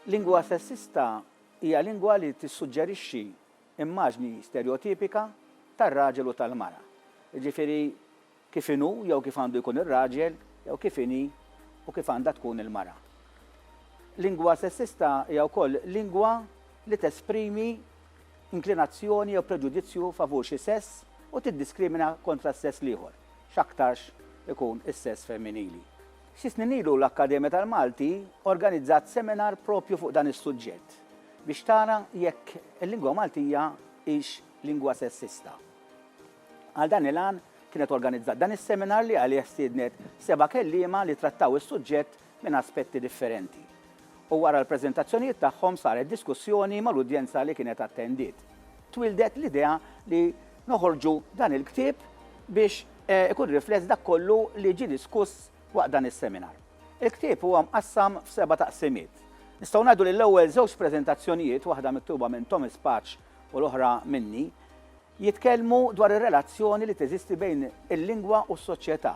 Lingwa sessista hija lingwa li tissuġġerixxi immaġni sterjotipika tar-raġel u tal-mara. Jiġifieri Kif inhu jew kif għandu jkun ir-raġel jew kif inhi u kif għandha tkun il-mara. Lingwa sessista hija wkoll lingwa li tesprimi inklinazzjoni jew preġudizzju favur xi sess u tiddiskrimina kontra s-sess l-ieħor, x'aktarx ikun is-sess femminili. Xi snin ilu l-Akkademja tal-Malti organizzat seminar proprju fuq dan is-suġġett biex tara jekk il-lingwa Maltija hix lingwa sessista. Għal dan il-għan kienet organizzat dan is-seminar li għalih stiednet seba' kelliema li trattaw is-suġġett minn aspetti differenti. U wara l-preżentazzjonijiet tagħhom saret diskussjoni mal-udjenza li kienet attendiet. Twieldet l-idea li noħorġu dan il-ktieb biex ikun rifless dak kollu li ġie diskuss waqt dan is-seminar. Il-ktieb huwa mqassam f'seba' taqsimiet. Nistgħu ngħidu li l-ewwel żewġ preżentazzjonijiet, waħda miktuba minn Thomas Paċ u l-oħra minni, Jitkellmu dwar ir-relazzjoni li teżisti bejn il-lingwa u s-soċjetà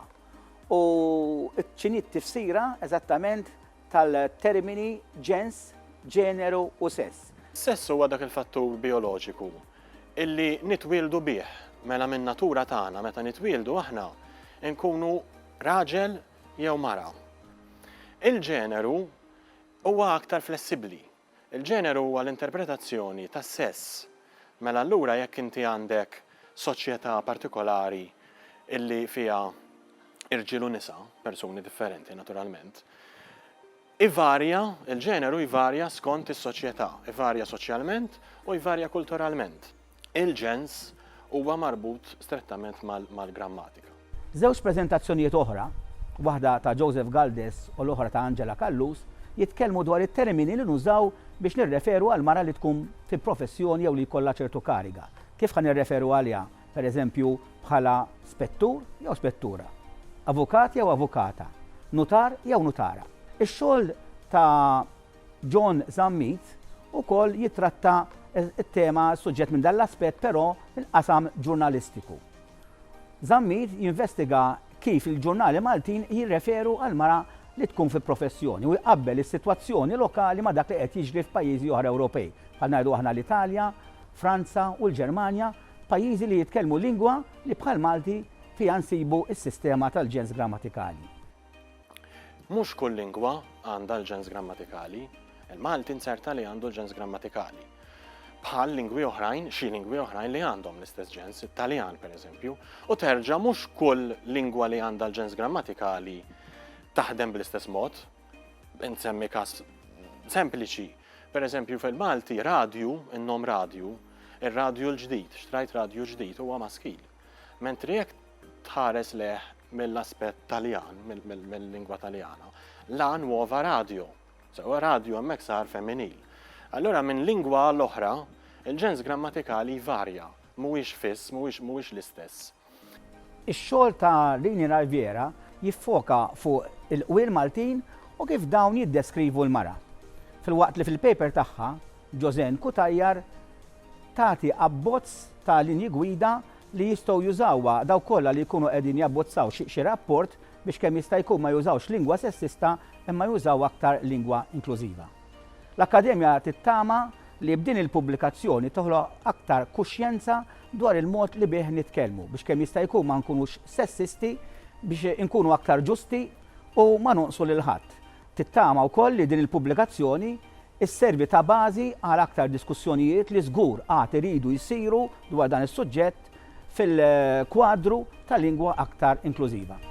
u x'inhi t-tifsira eżattament tal-termini ġens, ġeneru u sess. Sess huwa dak il-fattur bijoloġiku illi nitwieldu bih. Mela min-natura tagħna meta nitwieldu aħna nkunu raġel jew mara. Il-ġeneru huwa aktar flessibbli. Il-ġeneru huwa l-interpretazzjoni tas-sess. Mela allura jekk inti għandek soċjetà partikolari illi fiha irġiel u nisa, persuni differenti naturalment, ivarja, il-ġeneru jvarja skont is-soċjetà, ivarja soċjalment u jvarja kulturalment. Il-ġens huwa marbut strettament mal-grammatika. Żewġ preżentazzjonijiet oħra, waħda ta' Joseph Galdes u l-oħra ta' Angela Callus, jitkellmu dwar it-termini li nużaw biex nirreferu għal mara li tkun fi professjoni jew li jkollha ċertu kariga. Kif ħa nirreferu għaliha, per eżempju, bħala spettur jew spettura? Avukat jew avukata? Nutar jew nutara? Ix-xogħol ta' John Zammit ukoll jittratta t-tema, s-suġġett minn dan l-aspett però mill-qasam ġurnalistiku. Zammit jinvestiga kif il-ġurnali Maltin jirreferu għall-mara li tkun fi professjoni u jqabbel is-sitwazzjoni lokali ma' dak li qed jiġri f'pajjiżi oħra Ewropej, bħal ngħidu aħna l-Italja, Franza u l-Ġermanja, pajjiżi li jitkellmu lingwa li bħall-Malti fiha nsibu s-sistema tal-ġens grammatikali. Mhux kull lingwa għandha l-ġens grammatikali. Il-Malti nzerta li għandu l-ġens grammatikali. Bħal lingwi oħrajn, xi lingwi oħrajn li għandhom l-istess ġens, it-Taljan pereżempju, u terġa' mhux kull lingwa li għandha l-ġens grammatikali taħdem bl-istess mod. Insemmi każ sempliċi. Pereżempju fil-Malti radju, in-nom radju, ir-radju l-ġdid, xtrajt radju ġdid huwa maskil. Mentri jekk tħares lejh mill-aspett Taljan, mill-lingwa Taljana. La nuova radio. Sewa radio hemmhekk sar femminil. Allura minn lingwa għal oħra, il-ġens grammatikali jvarja, mhuwiex fiss, mhuwiex l-istess. Ix-xogħol ta' Rini Raiviera jiffoka fuq il-qwiel Maltin u kif dawn jiddeskrivu l-mara. Filwaqt li fil-paper tagħha, Joseanne Cutajar, tagħti abbozz ta' linji gwida li jistgħu jużawha dawk kollha li jkunu qegħdin jabbozzaw xi rapport biex kemm jista' jkun ma jużawx lingwa sessista imma jużaw aktar lingwa inklużiva. L-Akkademja tittama li b'din il-pubblikazzjoni toħloq aktar kuxjenza dwar il-mod li bih nitkellmu biex kemm jista' jkun ma nkunux sessisti, biex inkunu aktar ġusti u ma nonqsu lil ħadd. Tittama wkoll li din il-pubblikazzjoni sservi ta' bażi għal aktar diskussjonijiet li żgur għad iridu jsiru dwar dan is-suġġett fil-kwadru ta' lingwa aktar inklużiva.